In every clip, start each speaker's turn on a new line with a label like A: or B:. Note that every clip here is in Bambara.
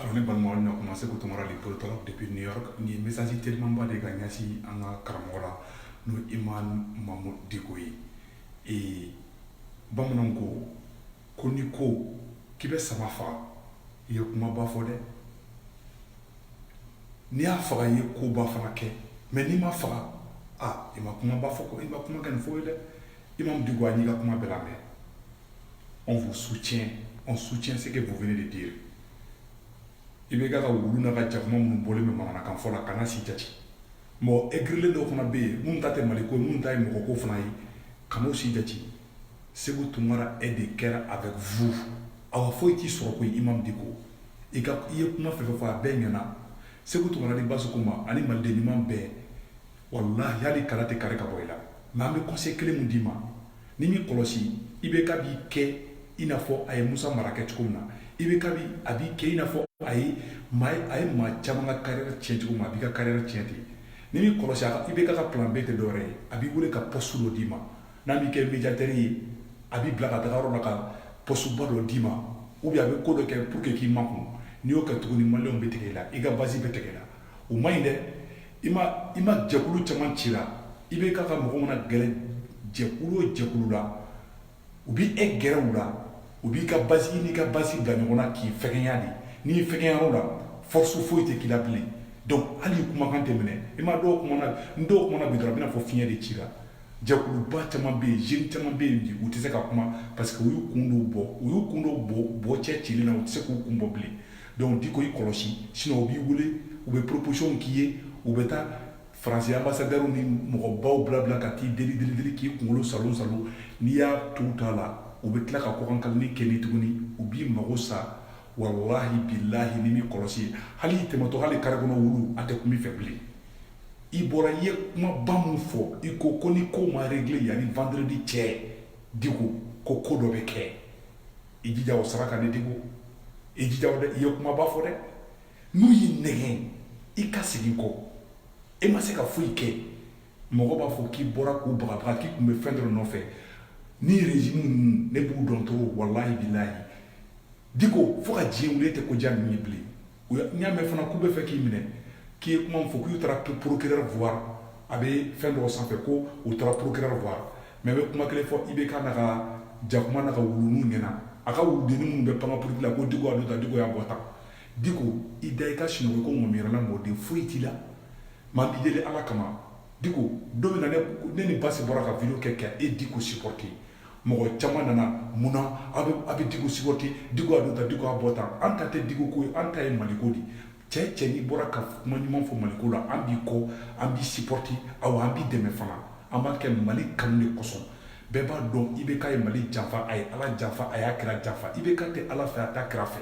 A: Alors ne balimaw na kuma seku tunkara le politologue depuis New York ni message telimanba de ka ɲɛsin an ka karamɔgɔ la n'o imamu mamudu diko ye ee bamananw ko ko ni ko k'i bɛ sama faga i ye kumaba fɔ dɛ n'i y'a faga i ye koba fana kɛ mais n'i ma faga i ma kumaba fɔ i ma kuma kɛ nin fɔ ye dɛ imamu diko an y'i ka kuma bɛɛ lamɛn On vous soutient on soutient ce que vous venez de dire IBK ka wulu n'a ka jakuma minnu bɔlen bɛ manamanakan fɔ la kana si jate mɔgɔ egirilen dɔw fana bɛ yen minnu ta tɛ mali ko ye minnu ta ye mɔgɔ ko fana ye kan'o si jate seku tunkara est de cœur avec vous awa foyi t'i sɔrɔ ko imamu diko i ka i ye kuma fɛn fɛn fɔ a bɛɛ ɲɛna seku tunkara ni basi ma ani maliden ɲuman bɛɛ walayi hali kala tɛ kari ka bɔ i la nka an bɛ conseil kelen min d'i ma n'i m'i kɔlɔsi IBK b'i kɛ i n'a fɔ a ye musa mara kɛ cogo min na IBK a b'i kɛ i n'a fɔ a ye a ye maa caman ka carrière tiɲɛ cogo min a b'i ka carrière tiɲɛ ten n'i m'i kɔlɔsi IBK ka plan B tɛ dɔwɛrɛ ye a b'i wele ka poste dɔ d'i ma n'a b'i kɛ médiateur ye a b'i bila ka taga yɔrɔ la ka poste ba dɔ d'i ma ou a bɛ ko dɔ kɛ pour que k'i makun n'i y'o kɛ tuguni maliyɛnw bɛ tigɛ i la i ka base bɛ tigɛ i la o man ɲi dɛ imamu jɛkulu caman cila IBK ka mɔgɔ mana gɛrɛ jɛkulu o jɛkulu la u b'i gɛrɛ u la u b'i ka base i n'i ka base bila ɲɔgɔn na k'i fɛgɛya de n'i fɛgɛya o la force foyi tɛ k'i la bilen donc hali kumakan tɛ minɛ i ma dɔw n dɔw kumana bi dɔrɔn a bɛna fɔ fiɲɛ de cila jɛkuluba caman bɛ yen jeunes caman bɛ yen bi u tɛ se ka kuma parce que u y'u kun bɔ u y'u kun don bɔ cɛcilen na u tɛ se k'u kun bɔ bilen donc diko i kɔlɔsi sinon u b'i wele u bɛ proposition k'i ye u bɛ taa faransi ambassadeur ni mɔgɔbaw bila bila ka t'i deli deli k'i kunkolo saalo n'i y'a t'u ta la u bɛ tila ka kɔkan ka ni kɛ tuguni u b'i mago sa walahi bilahi n'i m'i kɔlɔsi hali i tɛmɛtɔ hali kare kɔnɔ wulu a tɛ tun bɛ fɛ bilen i bɔra i ye kumaba min fɔ i ko ko ni ko ma régler yanni vendredi cɛ diko ko ko dɔ bɛ kɛ i jija o saraka ne diko i jija o dɛ i ye kumaba fɔ dɛ n'u y'i nɛgɛn i ka segin kɔ e ma se ka foyi kɛ mɔgɔ b'a fɔ k'i bɔra k'u bagabaga k'i tun bɛ fɛn dɔ nɔfɛ ni rezimu ninnu ne b'u dɔn trop walayi bilayi diko fo ka diɲɛ wuli e tɛ ko diya ninnu ye bilen n y'a mɛn fana k'u bɛ fɛ k'i minɛ k'i ye kuma min fɔ k'u taara procureur voir a bɛ fɛn dɔgɔ sanfɛ ko u taara procureur voir mais n bɛ kuma kelen fɔ IBK n'a ka jakuma n'a ka wuluninw ɲɛna n'a ka wuluden minnu bɛ pan politiki la ko diko y'a da diko y'a bɔ tan diko i da i ka sunɔgɔ ko mun yɛrɛla mɔden foyi t'i la maa b'i deli ala kama diko don ne ni basi bɔra ka vidéo kɛ k'e diko siporote mɔgɔ caman nana mun na a bɛ diko supporter diko y'a don tan diko y'a bɔ tan an ta tɛ diko ko ye an ta ye maliko de ye cɛ n'i bɔra ka kuma ɲuman fɔ maliko la an b'i kɔ an b'i supporter awa an b'i dɛmɛ fana an b'a kɛ mali kanu de kosɔn bɛɛ b'a dɔn IBK ye mali janfa a ye ala janfa a y'a kira janfa IBK tɛ ala fɛ a t'a kira fɛ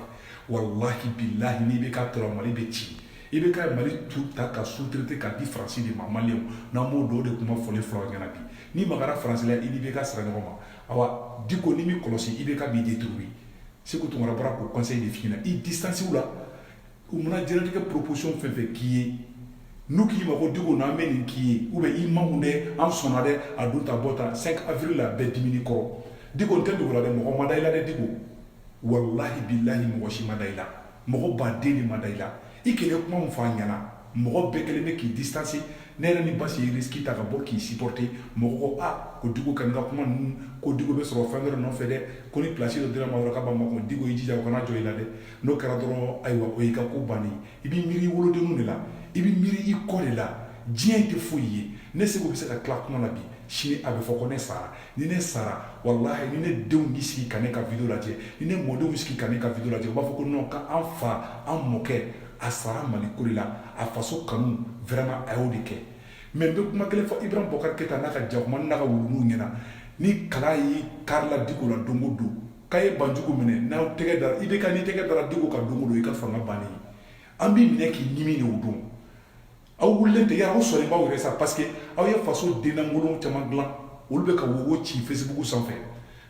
A: walahi bilahi ni IBK tora mali bɛ ci IBK ye mali tout ta k'a sous-traiter k'a di faransi de ma maliyɛnw an b'o dɔn o de kuma fɔlen fɔlɔ ɲɛna bi n'i magara faransi la i ni IBK sera ɲɔgɔn ma awa diko n'i m'i kɔlɔsi IBK b'i détruire seku tunkara bɔra k'o conseil de f'i ɲɛna i distance u la u mana diɲɛlatigɛ proposition fɛn fɛn k'i ye n'u k'i ma ko diko n'an bɛ nin k'i ye ou bien i ma mun dɛ an sɔnna dɛ a don tan bɔ tan 5 avril la bɛɛ diminen i kɔrɔ diko n t'a dogo i la dɛ mɔgɔ ma da i la dɛ diko walahi bilahi mɔgɔ si ma da i la mɔgɔ baden de ma da i la i kɛlen kuma min fɔ an ɲɛna mɔgɔ bɛɛ kɛlen bɛ k'i distance ne yɛrɛ ni basi ye risque ta ka bɔ k'i supporter mɔgɔ ko ah ko Diko ka n ka kuma ninnu ko Diko bɛ sɔrɔ fɛn dɔ nɔfɛ dɛ ko ni place dɔ dira a ma dɔrɔn k'a b'a makun Diko i jija o kana jɔ i la dɛ n'o kɛra dɔrɔn ayiwa o y'i ka ko bannen i b'i miiri i wolodenninw de la i b'i miiri i kɔ de la diɲɛ in tɛ foyi ye ne Seku bɛ se ka tila kuma la bi sini a bɛ fɔ ko ne sara ni ne sara walahi ni ne denw y'i sigi ka ne ka video lajɛ ni ne mɔdenw y'i sigi ka ne ka video lajɛ u b'a fɔ ko non k'an fa an mɔkɛ a sara mali ko de la a faso kanu vraiment a y'o de kɛ mais n bɛ kuma kelen fɔ ibrahim boubacar keita n'a ka jakuma n'a ka wuluninw ɲɛna ni kala y'i kari la diko la don o don k'aw ye banjugu minɛ n'aw tɛgɛ dara IBK n'i tɛgɛ dara diko kan don o don i ka fanga bannen an b'i minɛ k'i ɲimi de o don Aw wulilen de aw sɔnnen b'aw yɛrɛ sa parce que aw ye faso denkolon caman dilan olu bɛ ka wowo ci Facebook sanfɛ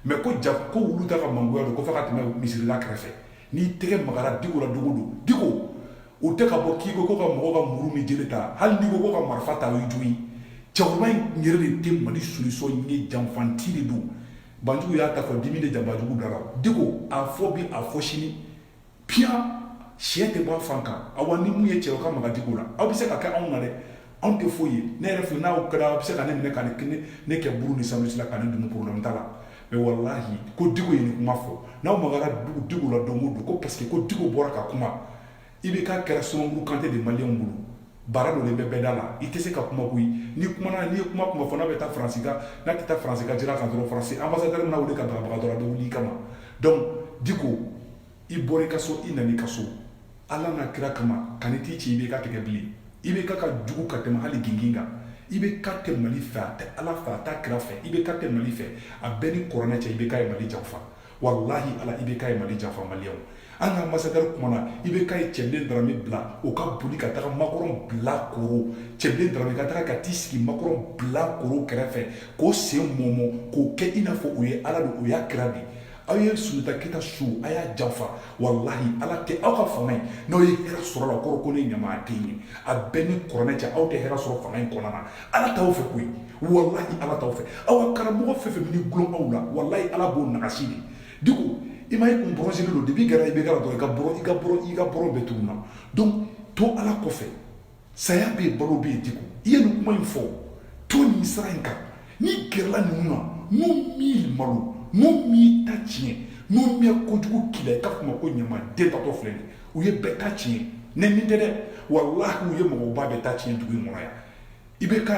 A: mais ko ja ko wulu t'a ka mangoya dɔn ko f'a ka tɛmɛ misiri da kɛrɛfɛ n'i tɛgɛ magara diko la don o don diko u tɛ ka bɔ k'i ko ko ka mɔgɔw ka muru ni jele ta hali diko ko ka marifa ta ye jumɛn cɛkɔrɔba in yɛrɛ de tɛ mali solution ye janfanti de don banjugu y'a ta fɔ dimi de ja banjugu da la diko a fɔ bi a fɔ sini Piyan si tɛ bɔ a fan kan awa ni min ye cɛ ka maga diko la aw bɛ se k'a kɛ anw na dɛ anw tɛ foyi ye ne yɛrɛ filɛ n'aw kɛra aw bɛ se ka ne minɛ ka ne kɛ buru ni sauce la ka ne dun problème t'a la mais walahi ko diko ye nin kuma fɔ n'aw magara diko la don o don ko parce que ko diko bɔra ka kuma IBK kɛra sumaworo kantɛ de maliyɛnw bolo bara donnen bɛ bɛɛ da la i tɛ se ka kuma koyi n'i kumana n'i ye kuma kuma fɔ n'a bɛ taa faransi ka n'a tɛ taa faransi ka sira kan dɔrɔn faransi ambassadeur n'i wele k'i bagabaga dɔrɔn a bɛ wuli i kama donc diko i bɔra i ka so i nana i ka so ala n'a kira kama kana t'i ci IBK tɛgɛ bilen IBK ka jugu ka tɛmɛ hali gingin kan IBK tɛ mali fɛ a tɛ ala fɛ a t'a kira fɛ IBK tɛ mali fɛ a bɛ n ni kuranɛ cɛ IBK ye mali janfa walahi ala IBK ye mali janfa maliyɛnw an ka ambassadeur kumana IBK ye cɛbilen darame bila o ka boli ka taga makɔrɔn bilakoro cɛbilen darame ka taga ka t'i sigi makɔrɔn bilakoro kɛrɛfɛ k'o sen mɔmɔ k'o kɛ i n'a fɔ o ye ala de o y'a kira de aw ye sunjata keyita su a y'a janfa walahi ala tɛ aw ka fanga in n'aw ye hɛrɛ sɔrɔ la kɔrɔ ko ne ɲamaden ye a bɛɛ ni kuranɛ cɛ aw tɛ hɛrɛ sɔrɔ fanga in kɔnɔna na ala t'aw fɛ koyi walahi ala t'aw fɛ aw ka karamɔgɔ fɛn fɛn bɛ gulon aw la walahi ala b'o nagasi de diko i ma i kun bɔrɔsilen don depuis kɛra IBK la dɔrɔn i ka bɔrɔ i ka bɔrɔ i ka bɔrɔ bɛɛ tununa donc to ala kɔfɛ saya bɛ yen balo bɛ yen diko i ye nin kuma in fɔ to nin sira in kan n'i gɛrɛla ninnu na n'u m'i malo n'u m'i ta tiɲɛ n'u m'i kojugu k'i la i k'a fɔ n ma ko ɲamaden taatɔ filɛ nin u ye bɛɛ ta tiɲɛ nɛni tɛ dɛ walahi u ye mɔgɔba bɛɛ ta tiɲɛ dugu in kɔnɔ yan IBK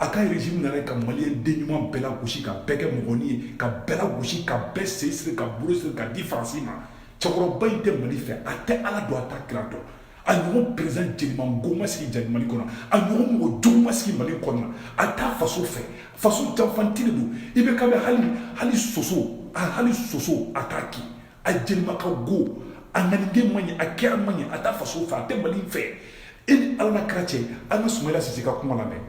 A: a ka régime nana ka maliyɛn den ɲuman bɛɛ lagosi ka bɛɛ kɛ mɔgɔnin ye ka bɛɛ lagosi ka bɛɛ sen siri ka bolo siri ka di faransi ma cɛkɔrɔba in tɛ mali fɛ a tɛ ala dɔn a t'a kira dɔn a ɲɔgɔn perezidan jelimango ma sigi jali mali kɔnɔ a ɲɔgɔn mɔgɔ jugu ma sigi mali kɔnɔ a t'a faso fɛ faso janfanci de don IBK bɛ hali hali soso a hali soso a t'a kin a jelima ka go a ŋaniya de man ɲi a kɛra man ɲi a t'a faso fɛ a tɛ mali fɛ e ni ala n'a kira cɛ an ka sumayila sise ka kuma lamɛn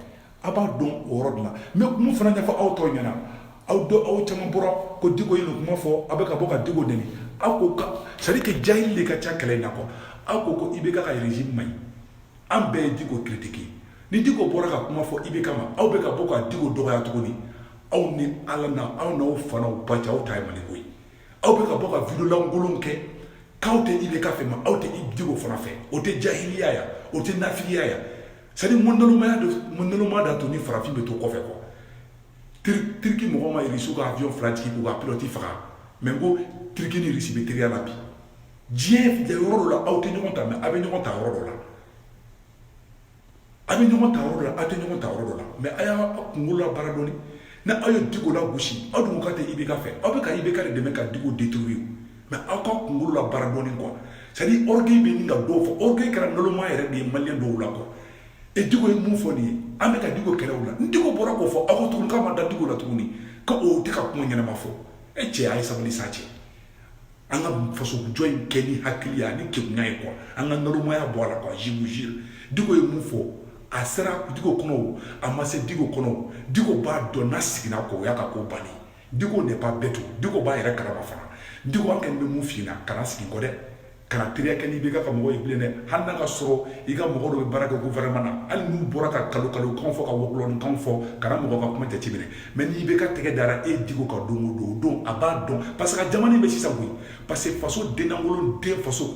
A: a b'a dɔn o yɔrɔ de la mais mun fana ɲɛfɔ aw tɔw ɲɛna aw dɔ aw caman bɔra ko diko ye nin kuma fɔ a bɛ ka bɔ ka diko nɛni aw ko ka c'est à dire que jahili de ka ca kɛlɛ in na quoi aw ko ko IBK ka régime man ɲi an bɛɛ ye diko critiquer ni diko bɔra ka kuma fɔ IBK ma aw bɛ ka bɔ ka diko dɔgɔya tuguni aw ni ala na aw n'aw fa n'aw ba cɛ aw ta ye maliko ye aw bɛ ka bɔ ka vidéo lankolon kɛ k'aw tɛ IBK fɛ ma aw tɛ diko fana fɛ o tɛ jahiliya ya o tɛ nafigiya ya c'est à dire nalonmaya don nalonmaya d'a to ni farafin bɛ to kɔfɛ quoi turiki mɔgɔ ma irisiw ka avion fila jigin k'u ka pilote faga mais ko turiki ni irisi bɛ teriya la bi diɲɛ yɔrɔ dɔ la aw tɛ ɲɔgɔn ta mais aw bɛ ɲɔgɔn ta yɔrɔ dɔ la a bɛ ɲɔgɔn ta yɔrɔ dɔ la a tɛ ɲɔgɔn ta yɔrɔ dɔ la mais a y'a kunkolo labaara dɔɔni ni aw ye Diko lagosi aw dun k'aw tɛ IBK fɛ aw bɛ ka IBK de dɛmɛ ka Diko détruire mais aw ka kunkolo labaara dɔɔni quoi c'est à dire orgueil bɛ nin ka dɔw fɔ orgueil kɛra nalonma yɛrɛ de ye maliyɛn dɔw la quoi e Diko ye mun fɔ nin ye an bɛ ka Diko kɛlɛ o la ni Diko bɔra k'o fɔ aw ko tuguni k'a ma da Diko la tuguni ko o tɛ ka kuma ɲɛnama fɔ e cɛ a ye sabali sa cɛ an ka fasojɔ in kɛ ni hakili ani ke ye kuwa an ka nmaya bɔ a la ka zmu z dugu ye mun fɔ a sera du kɔnɔ a ma se du kɔnɔ du b'a dɔn n' sigira ko o y' ka ko ban dugu de b'a bɛɛ to dugu b'a yɛrɛ kalaba fana dugu kɛ bɛ mun fna ka sigi kɔrɔ dɛ kana teriya kɛ ni IBK ka mɔgɔ ye bilen dɛ hali n'a ka sɔrɔ i ka mɔgɔ dɔ bɛ baara kɛ gouvernement na hali n'u bɔra ka kalo kalo kan fɔ ka wɔkulɔni kan fɔ kana mɔgɔ ka kuma jateminɛ mais ni IBK tɛgɛ dara e diko kan don o don o don a b'a dɔn parce que jamana in bɛ sisan koyi parce que faso denlankolon den faso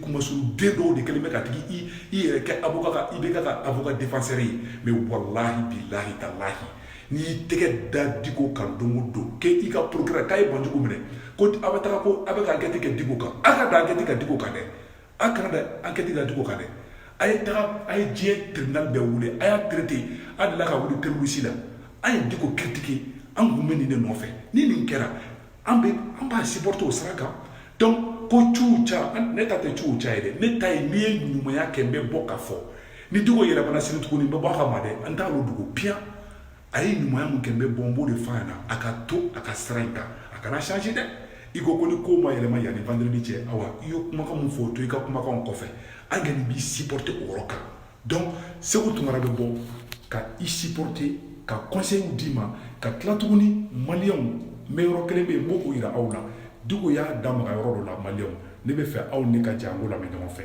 A: kunmasuru den dɔw de kɛlen bɛ k'a tigi i yɛrɛ kɛ avo IBK ka avocat défenseur ye mais walahi bilahi talahi n'i y'i tɛgɛ da diko kan don o don k'i ka procureur k'a ye banjugu minɛ ko a bɛ taga ko a bɛ ka ankɛti kɛ diko kan aw ka dan ankɛti kɛ diko kan dɛ aw kana dan ankɛti kɛ diko kan dɛ a ye taga a ye diɲɛ tribunal bɛɛ wele a y'a traité a delila ka wuli terroriste la an ye diko critiquer an kun bɛ nin de nɔfɛ ni nin kɛra an bɛ an b'a supporter o sira kan donc ko ciw ca ne ta tɛ ciw ca ye dɛ ne ta ye n'i ye ɲumanya kɛ n bɛ bɔ ka fɔ ni diko yɛlɛmana sini tuguni n bɛ bɔ a kama dɛ an t'a dogo piyan a ye ɲumanya min kɛ n bɛ bɔ n b'o de f'a ɲɛna a ka to a ka sira in kan a kana changer dɛ i ko ko ni ko ma yɛlɛma yanni vendredi cɛ awa i ye kumakan min fɔ o to i ka kumakan kɔfɛ an kɔni b'i supporter o yɔrɔ kan donc segu tunkara bɛ bɔ ka i supporter ka conseils d'i ma ka tila tuguni maliyɛnw n bɛ yɔrɔ kelen bɛ yen n b'o yira aw la diko y'a da maga yɔrɔ dɔ la maliyɛnw ne bɛ fɛ aw ni ka jɛ an k'o lamɛn ɲɔgɔn fɛ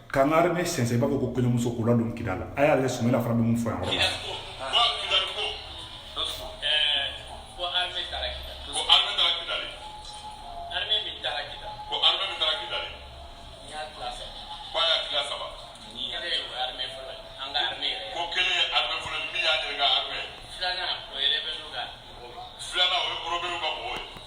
A: kangari bɛ sɛnsɛn i b'a fɔ ko kɔɲɔmuso k'o ladon kira la a y'ale sumela fana bɛ mun fɔ yan Filanan o ye rebelle ka mɔgɔw ye.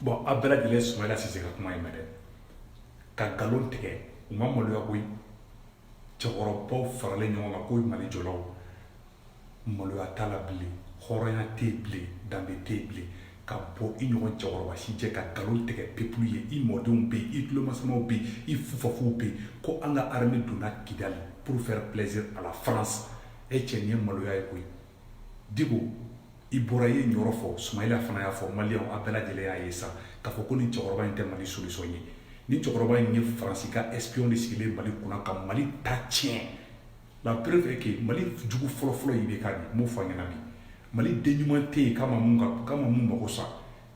A: bon aw bɛɛ lajɛlen sumayila sise ka kuma in mɛn dɛ ka nkalon tigɛ u ma maloya koyi cɛkɔrɔbaw faralen ɲɔgɔn kan ko mali jɔlaw maloya t'a la bilen hɔrɔnya tɛ yen bilen danbe tɛ yen bilen ka bɔ i ɲɔgɔn cɛkɔrɔba si jɛ ka nkalon tigɛ pepulu ye i mɔdenw bɛ yen i tulomasamaw bɛ yen i fufafuw bɛ yen ko an ka arme donna kidali pour faire plaisir à la france e cɛ nin ye maloya ye koyi Diko i bɔra i ye nin yɔrɔ fɔ sumayila fana y'a fɔ maliyɛnw a bɛɛ lajɛlen y'a ye sa k'a fɔ ko nin cɛkɔrɔba in tɛ mali solution ye nin cɛkɔrɔba in ye faransi ka espion de sigilen mali kunna ka mali ta tiɲɛ la preuve est que mali jugu fɔlɔfɔlɔ ye IBK de ye n b'o f'a ɲɛna bi mali den ɲuman tɛ yen ka ma ka ma mun mɔgɔw sa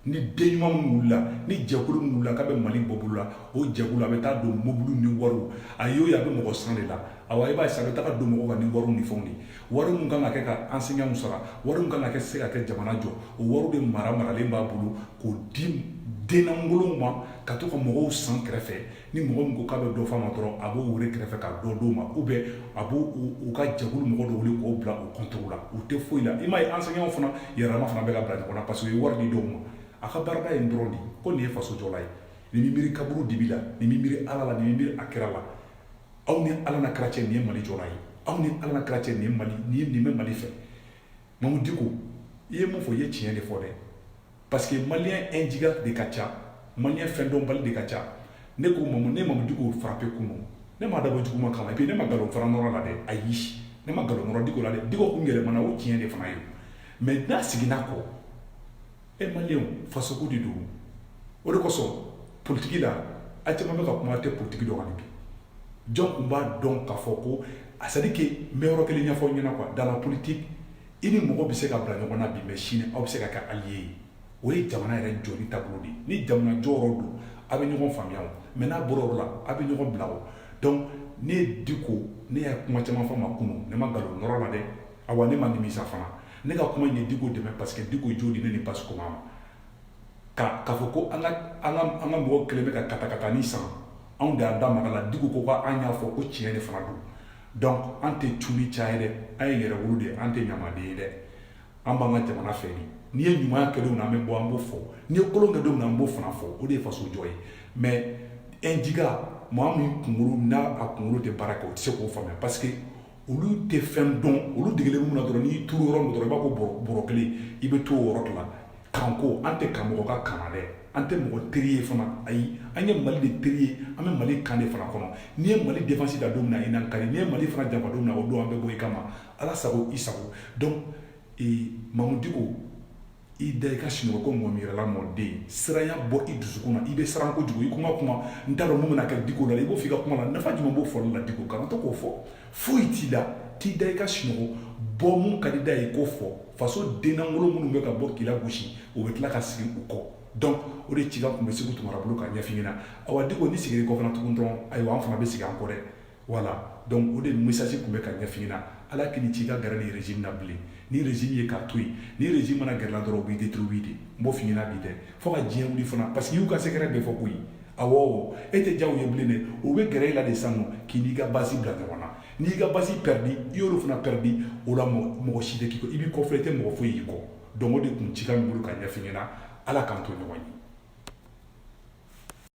A: ni den ɲuman minnu wulila ni jɛkulu minnu wulila k'a bɛ mali bɔ bolo la o jɛkulu a bɛ taa don mobili ni wariw a y'o ye a bɛ mɔgɔ san de la awa i b'a ye sa a bɛ taga don mɔgɔw ka ni wariw ni fɛnw de wari min kan ka kɛ ka enseignants sara wari min kan ka kɛ se ka kɛ jamana jɔ o wariw de mara maralen b'a bolo k'o di dennankolow ma ka to ka mɔgɔw san kɛrɛfɛ ni mɔgɔ min ko k'a bɛ dɔ f'a ma dɔrɔn a b'o wele kɛrɛfɛ ka dɔ d'o ma ou bien a b'u ka jɛkulu mɔgɔ dɔw wuli k'o bila u compte la u tɛ foyi la i m'a ye enseignants fana yɛrɛma fana bɛ ka bila ɲɔgɔn na parce que u ye wari di dɔw ma a ka baarada in dɔrɔn diko nin ye faso jɔla ye nin bɛ miiri kaburu dibi la nin bɛ miiri ala la nin bɛ miiri a kira la aw ni ala na kira cɛ nin ye mali jɔla ye aw ni ala na kira cɛ nin mali nin ye nin bɛ mali fɛ mamu diko i ye mun fɔ i ye tiɲɛ de fɔ dɛ Parce que malien injiga de ka ca malien fɛndɔnbali de ka ca ne ko mamu diko frappé kunun ne m'a dabɔ juguman kama et puis ne ma nkalon fana nɔrɔ la dɛ ayi ne ma nkalon nɔrɔ diko la dɛ diko tun yɛlɛmana o tiɲɛ de fana ye mais n'a seginna kɔ e malienw fasoko de don o de kosɔn politiki la a caman bɛ ka kuma tɛ politiki dɔn bi jɔn tun b'a dɔn k'a fɔ ko a c'est à dire que n bɛ yɔrɔ kelen ɲɛfɔ ɲɛna dans la politique i ni mɔgɔ bɛ se ka bila ɲɔgɔn na bi mais sini aw bɛ se ka kɛ allié ye o ye jamana yɛrɛ jɔli taabolo de ye ni jamana jɔyɔrɔ don aw bɛ ɲɔgɔn faamuya o mais n'a bɔra yɔrɔ la aw bɛ ɲɔgɔn bila o donc ne ye diko ne ye kuma caman fɔ ma kunun ne ma nkalon nɔrɔ la dɛ awa ne ma nimisa fana ne ka kuma ye diko dɛmɛ parce que diko jo de ne ni basi ko ma ka k'a fɔ ko an ka mɔgɔ kelen bɛ ka katakatani san anw de y'an da maga la diko ko an y'a fɔ ko tiɲɛ de fana don donc an tɛ culi ca ye dɛ an ye yɛrɛwolo de ye an tɛ ɲamaden ye dɛ an b'an ka jamana fɛ de n'i ye ɲumanya kɛ don min na an bɛ bɔ an b'o fɔ n'i ye kolon kɛ don min na an b'o fana fɔ o de ye faso jɔ ye mais ɛnjiga maa min kunkolo n'a a kunkolo tɛ baara kɛ o tɛ se k'o faamuya parce que olu tɛ fɛn dɔn olu degelen mun na dɔrɔn n'i turu yɔrɔ min dɔrɔn i b'a ko bɔrɔ kelen i bɛ to o yɔrɔ de la kanko an tɛ kan mɔgɔ ka kan na dɛ an tɛ mɔgɔ teri ye fana ayi an ye mali de teri ye an bɛ mali kan de fana kɔnɔ n'i ye mali défense da don min na i n'an ka di n'i ye mali fana janfa don min na o don an bɛ bɔ i kama ala sago i sago donc mamu diko i da i ka sunɔgɔ ko mɔmi yɛrɛla mɔden siranya bɔ i dusukun na i bɛ siran kojugu i kuma kuma n t'a dɔn mun bɛna kɛ diko la i b'o fɔ i ka kuma na nafa jumɛn b'o fɔli la diko kana to k'o fɔ foyi t'i la t'i da i ka sunɔgɔ bɔ min ka d'i da ye k'o fɔ faso dennankolo minnu bɛ ka bɔ k'i lagosi o bɛ tila ka segin u kɔ donc o de cikan tun bɛ seku tunkara bolo ka ɲɛf'i ɲɛna awa diko n'i seginn'i kɔ fana tugun dɔrɔn ayiwa an fana bɛ segin an kɔ dɛ voilà donc o de message tun bɛ ka ɲɛf'i ɲɛna ala kan'a k'i ka gɛrɛ nin régime na bilen nin régime ye k'a to yen nin régime i mana gɛr'a la dɔrɔn u b'i détruire de n b'o f'i ɲɛna bi dɛ fo ka diɲɛ wuli fana parce que i y'u ka secret bɛɛ fɔ koyi Awɔ e tɛ diya u ye bilen dɛ u bɛ gɛrɛ e la de sisan u k'i n'i ka base bila ɲɔgɔn na n'i ka base pɛridi i y'olu fana pɛridi o la mɔgɔ si tɛ k'i kɔ i b'i kɔfilɛ i tɛ mɔgɔ foyi y'i kɔ donc o de tun cikan bɛ n bolo ka ɲɛf'i ɲɛna Ala k'an to ɲɔgɔn ye